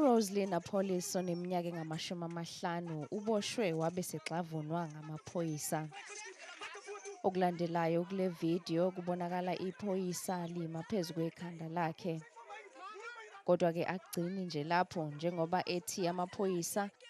uRoselyn Apollis oneminyaka engamashumi amahlanu uboshwe wabe segxavunwa ngamaphoyisa. Okulandelayo kule video kubonakala iphoyisa lima phezu kwekhanda lakhe. Kodwa-ke akugcini nje lapho njengoba ethi amaphoyisa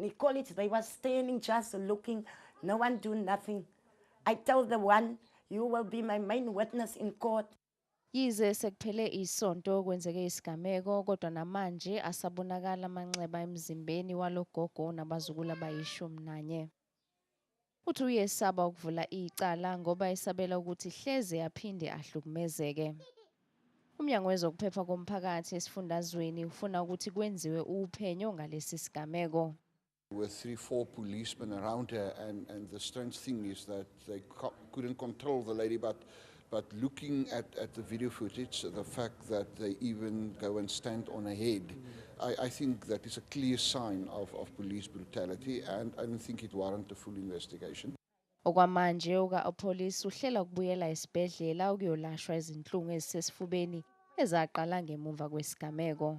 Nicole, it, they were standing just looking, no one do nothing. I tell the one, you will be my main witness in court. Yize sekuphele isonto kwenzeke isigameko kodwa namanje asabonakala amanxeba emzimbeni walogogo nabazukulu abayishumi nanye. Uthi uyesaba ukuvula icala ngoba esabela ukuthi hleze aphinde ahlukumezeke. UMnyango wezokuPhepha koMphakathi esifundazweni ufuna ukuthi kwenziwe uphenyo ngalesi sigameko. were three, four policemen around her, and, and the strange thing is that they co- couldn't control the lady, but But looking at, at the video footage, the fact that they even go and stand on a head, mm. I, I think that is a clear sign of, of police brutality and I don't think it warrants a full investigation. Okwamanje uka-Opolis uhlela ukubuyela esibhedlela ukuyolashwa izinhlungu ezisesifubeni ezaqala ngemuva kwesigameko.